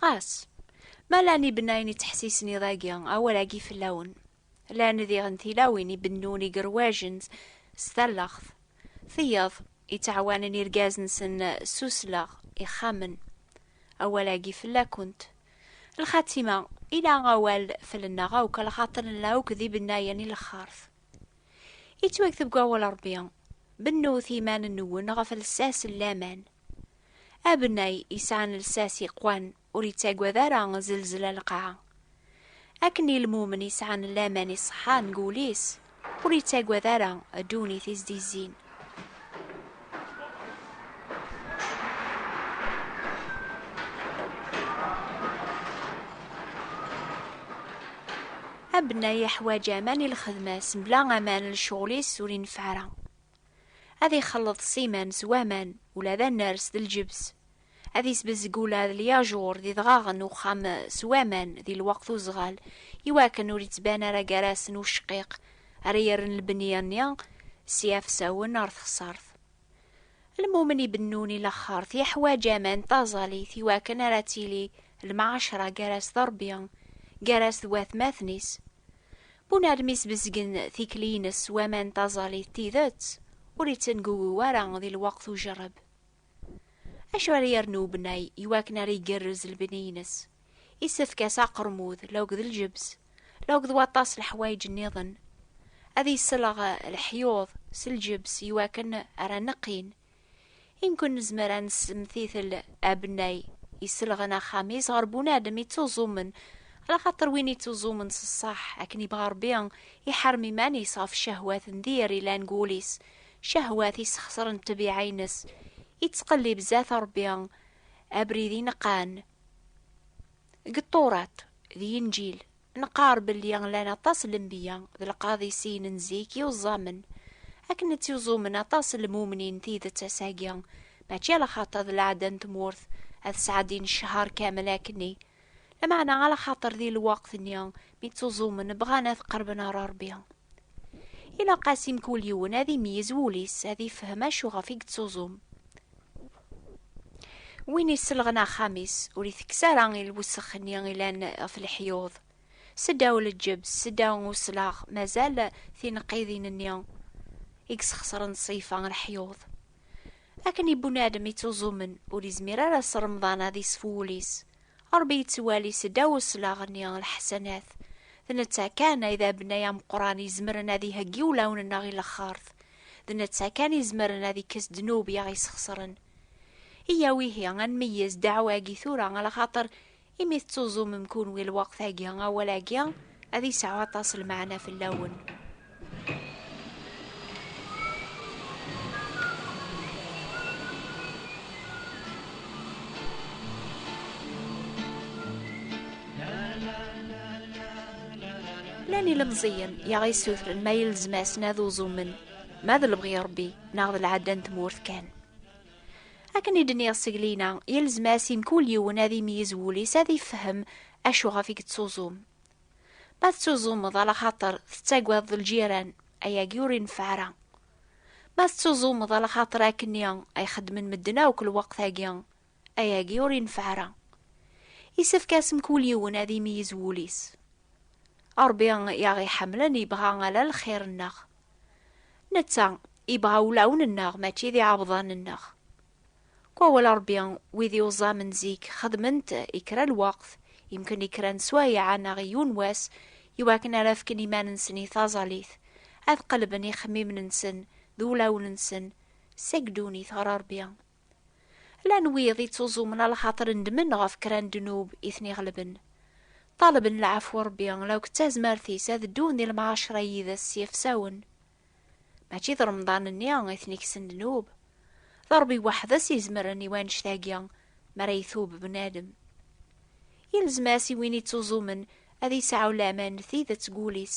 Ɣas, ma llan ibennayen yettḥessisen i dagi, awal-agi fell-awen, llan diɣen tilawin i bennun igerwajen s talleɣt, tiyeḍ i ttɛawanen irgazen-nsen s usleɣ ixxamen, awal-agi fell-akent. Lxatima, ila awal fell-nneɣ akk, lxaṭer nella akk d ibennayen i lxert. Yettwakteb deg wawal Rebbi, Bennut iman-nwen ɣef lsas n laman. Abennay yesɛan lsas yeqwan ur yettagad ara zelzla lqaɛa. Akken i lmumen yesɛan laman iṣeḥḥan deg wul-is ur yettagad ara ddunit i s-d-izzin. Abennay yeḥwaǧ aman i lxedma-s, mebla aman lecɣal-is ur ineffeɛ ara. Ad ixelleḍ ssiman s waman, ula d aners d lǧebs. Ad isbezg ula d lyajuṛ d idɣaɣen n uxxam s waman di lweqt uzɣal, iwakken ur ittban ara gar-asen ucqiq ara yerren lbenni-nni s yiɛefsawen ar texṣart. Lmumen ibennun i laxert yeḥwaǧ aman d taẓalit iwakken ara tili lmɛacra gar-as d Ṛebbi, gar-as d watmaten-is. Win armi sbezgen tikli-ines waman taẓallit d tidet, ur ittengugu ara di lweqt ujerreb. Acu ara yernu ubnay iwakken ara igerrez lebni-ines? Isefk-as aqermud, law d lǧebs, law d waṭas n leḥwayeǧ nniḍen. Ad iselleɣ leḥyuḍ s lǧebs iwakken ara neqqin I nekk-n nezmer ad nessemtitel abennay iselɣen axxam-is ɣer bunadem ittuẓumen, alaxaṭer win ittuẓumen s ṣṣeḥ akken ibɣa Ṛebbi, iḥerrem iman-is ɣef ccehwat n dir ilan deg wul-is, ccehwat isxesren ṭṭbiɛa-ines, ittqellib zdat Ṛebbi abrid ineqqan deg Ṭṭurat d Yinǧil. Nqar belli llan aṭas n lenbiya d lqaḍisiyen n zik yuẓẓamen, akken ad tt-yuẓumen aṭas n lmumnin tidet ass-agi, mačči ala xaṭer d lɛada n tmurt ad sɛeddin ccehar kamel akkenni, lameɛna ala xaṭer di lweqt-nni mi ttuẓumen bɣan ad qerben ɣer Rebbi. Ilaq-as i mkul yiwen ad imeyyez wul-is, ad ifhem acuɣef i yettuẓum. Win iselɣen axxam-is, ur itekkes ara i lwessex-nni ilan ɣef leḥyuḍ. Seddaw leǧebs, seddaw uslaɣ, mazal tineqqidin-nni i yesxesren ṣṣifa n leḥyuḍ. Akken i bunadem ittuẓumen, ur izmir ara ass n Remḍan ad isef wul-is. Ṛebbi ittwali seddaw uslaɣ-nni lḥasanat. D netta kan ay d abennay ameqran izemren ad iheggi ulawen-nneɣ i laxert, D netta kan izemren ad ikkes ddnub i aɣ-isxesren. Iyyaw ihi ad nmeyyez ddeɛwa-agi tura a lxaṭer imi tettuẓumem kunwi lweqt-agi awal-agi ad isɛu aṭas lmeɛna fell-awen. Llan ilemẓiyen i aɣ-yessutren ma yelzem-asen ad uẓumen, ma d lebɣi Ṛebbi neɣ d lɛadda n tmurt kan. Akken i d-nniɣ seglina, yelzem-as i mkul yiwen ad imyiz wul-is ad ifhem acu ɣef i yettuẓum. Ma tettuẓumeḍ ala xaṭer tettagadeḍ lǧiran, ayagi ur ineffeɛ ara. Ma tettuẓumeḍ ala xaṭer akken i ay xeddmen medden akk lweqt-agi, Ayagi ur yenfeɛ ara. Yessefk asmk ul yiwen ad imeyiz wul-is. Ṛebbi i aɣ-iḥemmlen yebɣa ala lxir-nneɣ. Netta yebɣa ulawen-nneɣ mačči d iɛebḍan-nneɣ. Deg wawal Ṛebbi wid i uẓamen zik xedmen-t i kra n lweqt, yemken i kra n swayeɛ neɣ i yiwen wass, i wakken ara fken iman-nsen i taẓalit, ad qelben ixemmimen-nsen d ulawen-nsen seg ddunit ɣer Ṛebbi. Llan wid ittuẓumen a lxaṭer ndmen ɣef kra n ddnub i ten-iɣelben. Ṭalben lɛafwa n Ṛebbi la akked tazmert-is ad ddun di lemɛaceṛa yid-s s yefsawen. Mačči d Remḍan-nni i ten-ikksen ddnub. D Ṛebbi weḥd-s i izemren i wannect-agi mi ara itub bnadem. Yelzem-as i win ittuẓumen ad yesɛu laman n tidet deg wul-is,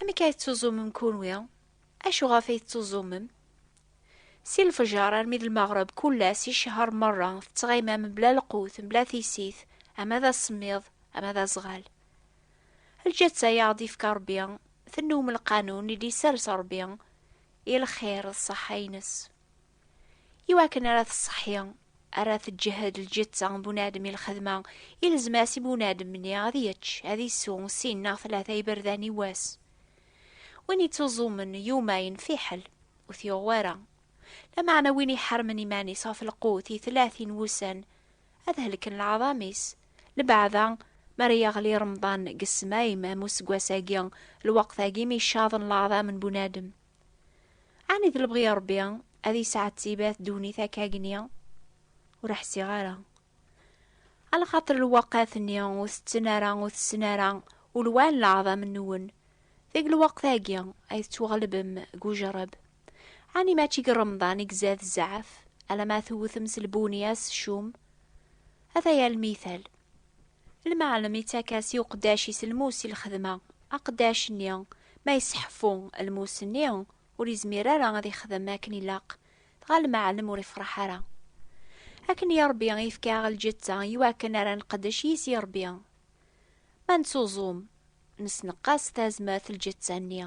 Amek ay tettuẓumem kunwi? Acu ɣef ay tettuẓumem? Si lfejer armi d lmeɣreb kul ass i ccehṛ meṛṛa tettɣimam mebla lqut, mebla tissit, ama d asemmiḍ, ama d aẓɣal. Lǧetta ay aɣ-d-yefka Ṛebbi, tennum lqanun i d-yessers Ṛebbi i lxir d ṣṣeḥḥa-nnes. i wakken ara tṣeḥḥi ara teǧhed lǧetta n bunadem i lxedma ilzem-as i bunadem-nni ad yečč ad isu sin neɣ tlata iberdan i wass win ittuẓumen yumayen fiḥel ur t-yuɣ wara lameɛna win iḥermen iman-is ɣef lqut i tlatin wussan ad helken leɛḍam-is lbeɛda mi ara yaɣli remḍan deg ssmayem am useggas-agi lweqt-agi mi caḍen leɛḍam n bunadem Ɛni d lebɣi n Ṛebbi ad yesɛettibat ddunit akka agni? Ur ḥsiɣ ara. Alxaṭer lewqat-nni ur tetten ara, ur tessen ara ulwan n leɛḍam-nwen. Deg lweqt-agi ay tettwaɣlebem deg ujerreb. Ɛni mačči deg Remḍan i izad zzɛaf, alamma tewtem s lbunya s ccum? Ataya lmital. Lmeɛlem ittak-as i uqeddac-is lmus i lxedma. Aqeddac-nni, ma yesseḥfu lmus-nni, ur yezmir ara ad ixdem akken ilaq, dɣa lmeɛlem ur ifreḥ ara. Akken i Ṛebbi i yefka-aɣ lǧetta i wakken ara nqeddec yis i Ṛebbi. Ma nettuẓum, nesneqqas tazmert lǧetta-nni.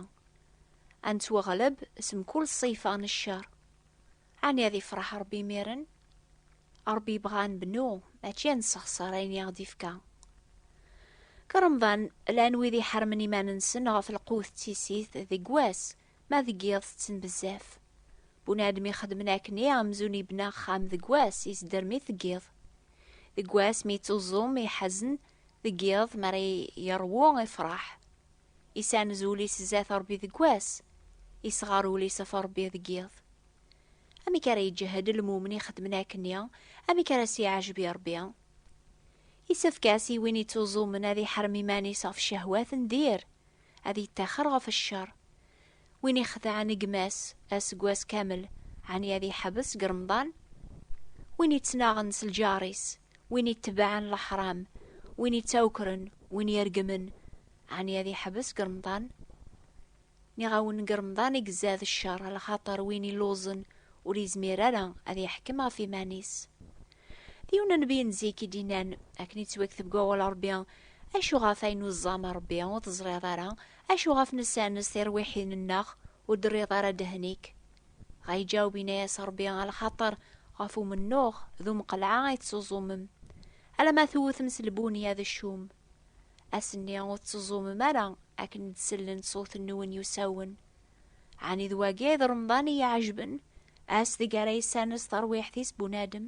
Ad nettwaɣleb s mkul ṣṣifa n cceṛ. Ani ad ifreḥ Ṛebbi imiren? Ṛebbi yebɣa ad nbennu, mačči ad nessexṣer ayen i aɣ-d-ifka. Deg Remḍan, llan wid iḥermen iman-nsen ɣef lqut d tissit deg wass, ma deg yiḍ tetten bezzaf. Bunadem ixedmen akken i amzun ibna axxam deg wass, isderm-it deg yiḍ. Deg wass mi yettuẓum, iḥazen, deg yiḍ mi ara yeṛwu, ifreḥ. Isamez ul-is zdat Ṛebbi deg wass, isɣer ul-is ɣef Ṛebbi deg yiḍ. Amek ara yeǧǧehhed lmumen ixeddmen akken-nni, amek ara s-yeɛjeb i Ṛebbi? Isefk-as i win ittuẓumen ad iḥrem iman-is ɣef ccehwat n dir, ad yettaxer ɣef ccer. Win ixedɛen gma-s aseggas kamel, ɛni ad yeḥbes deg Remḍan? Win ittnaɣen s lǧar-is, win itebɛen leḥram, win ittawkren, win iregmen, ɛni ad yeḥbes deg Remḍan? Nniɣ-awen deg Remḍan i izad ccer, lxaṭer win illuẓen ur izmir ara ad yeḥkem ɣef iman-is. D yiwen n nnbi n zik i d-yennan, akken ittwakteb deg wawal n Rebbi, Acu ɣef ayen ur tẓam a Rebbi, ur teẓriḍ ara, Acu ɣef nessernes tirwiḥin-nneɣ, ur d-terriḍ ara ddehn-ik? Ɣa iǧaweb yenna-yas Ṛebbi, A lxaṭer ɣef umennuɣ d umqelɛa ay tettuẓumem, alamma tewtem s lbunya d ccum. Ass-nni ur tettuẓumem ara akken d-sellent ṣṣut-nwen yusawen. Ɛni d wagi ay d Remḍan i y-iɛejben, ass deg ara yessernes tarwiḥt-is bunadem?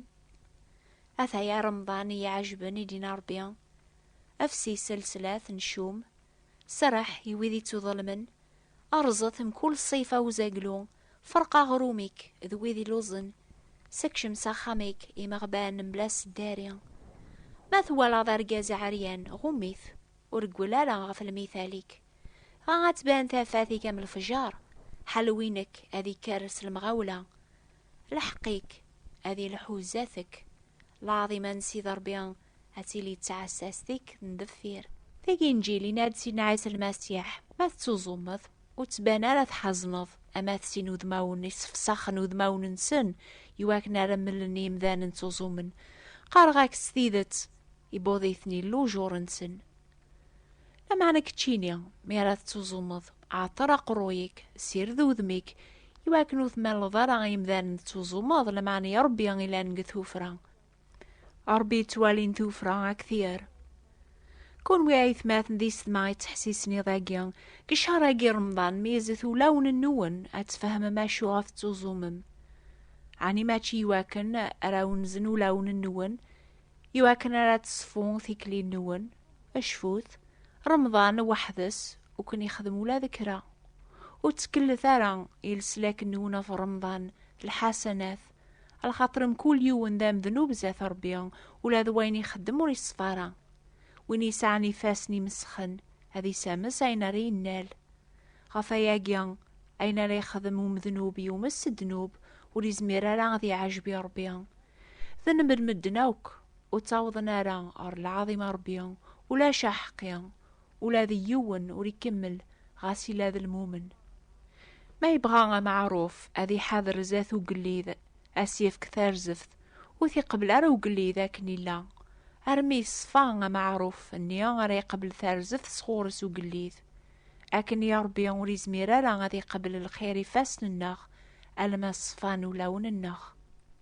Ataya Remḍan i y-iɛejben, i d-yenna Ṛebbi, Efsi s lslat n ccum, Serreḥ i wid ittuḍelmen, rẓet mkul ṣṣif a uzaglu, ferq aɣrum-ik d wid illuẓen, sekcem s axxam-ik imeɣban mebla aseddari. Ma twalaḍ argaz aɛeryan, ɣum-it, ur reggel ara ɣef lmithal-ik. Dɣa ad tban tafat-ik am lefjer, ḥelwi-nek ad ikker s lemɣawla, lḥeqq-ik ad ilḥu zdat-k. Laɛḍima n Sidi Ṛebbi ad tili d tɛessast-ik n deffir. Tagi n Jil yenna-d Sidna Ɛisa Lmasiḥ, Ma tettuẓumeḍ, ur ttban ara tḥazneḍ, ama d sin udmawen yessefṣaxen udmawen-nsen i wakken ara mlen i yemdanen ttuẓumen, qqareɣ-ak-d s tidet, ibuḍ-iten Illu ujuṛ-nsen. Lameɛna keččini, mi ara tettuẓumeḍ, ɛeṭṭer aqerruy-ik, ssired udem-ik, i wakken ur tmalleḍ ara i yemdanen tettuẓumeḍ, lameɛna i Ṛebbi i llan deg tuffra. Ṛebbi yettwalin tuffra ak tyer. Kunwi aytmaten d isetma ittḥessisen iḍ-agi, deg ccehr-agi n Remḍan, meyyzet ulawen-nwen ad tfehmem acu ɣef tettuẓumem. Ɛni mačči iwakken ara wenzen ulawen-nwen, iwakken ara teṣfu tikli-nwen? Cfut, Remḍan weḥd-s ur ken-ixdem ula d kra. Ur ttkellet ara i leslak-nwen ɣef Remḍan, lḥasanat, Ala xaṭer mkul yiwen d amednub zdat Ṛebbi, ula d wayen ixeddem ur iṣef ara. Win yesɛan ifassen imesxen, ad isames ayen ara yennal. Ɣef wayagi, ayen ara yexdem umednub yumes s ddnub, ur izmir ara ad iɛejb i Ṛebbi. D lmed n medden akk, ur ttawḍen ara ɣer lɛaḍima n Ṛebbi, ulac aḥeqqi, Ula d yiwen ur ikemmel ɣas yella d lmumen. Ma yebɣa ameɛruf ad iḥader zdat ugellid, ad s-yefk tarzeft, ur t-iqebbel ara ugellid akken yella, armi yeṣfa ameɛruf nni ara iqebbel tarzeft sɣur-s ugellid. Akken i Ṛebbi ur izmir ara ad iqebbel lxir ifassen-nneɣ alamma ṣfan ulawen-nneɣ.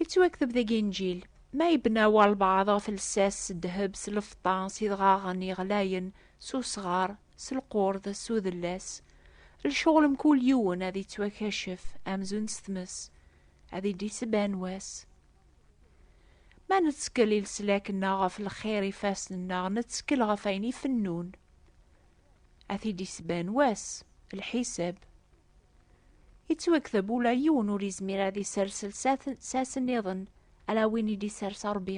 Yettwakteb deg Inǧil, Ma yebna walbeɛḍ ɣef lsas s ddheb, s lfeṭṭa, s idɣaɣen yeɣlayen, s usɣar, s lqurd, s udellas, lecɣel mkul yiwen ad ittwakacef amzun s tmes, ad id-isban wass. Ma nettkel i leslak-nneɣ ɣef lxir ifassen-nneɣ, nettkel ɣef ayen ifennun. Ad t-id-isban wass, lḥisab. Yettwakteb ula yiwen ur yezmir ad isers lsas nniḍen ala win i d-isers Ṛebbi,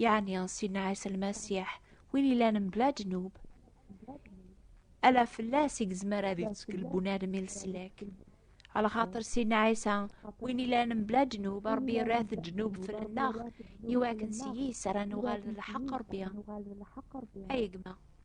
yeɛni Sidna Ɛisa Lmasiḥ, win yellan mebla ddnub. Ala fell-as i yezmer ad ittkel bunadem i leslak. Lxaṭer Sidna Ɛisa, win yellan mebla ddnub, Ṛebbi yerra-t ddnub fell-aneɣ, iwakken s yis ara nuɣal d lḥeqq Ṛebbi. Ay gma!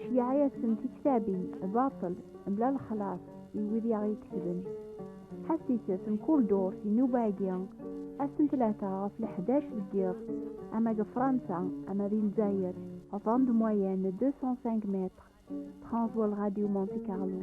Ceyyeɛ-asen tiktabin baṭel mebla lexlaṣ i wid i aɣ-iketben. Ḥassiset mkul ddurt inuba-agi ass n tlata ɣef leḥdac deg yiḍ, ama deg Fransa ama di Lezzayer. Vent de moyenne de 205 mètres, transvoal Radio Monte Carlo.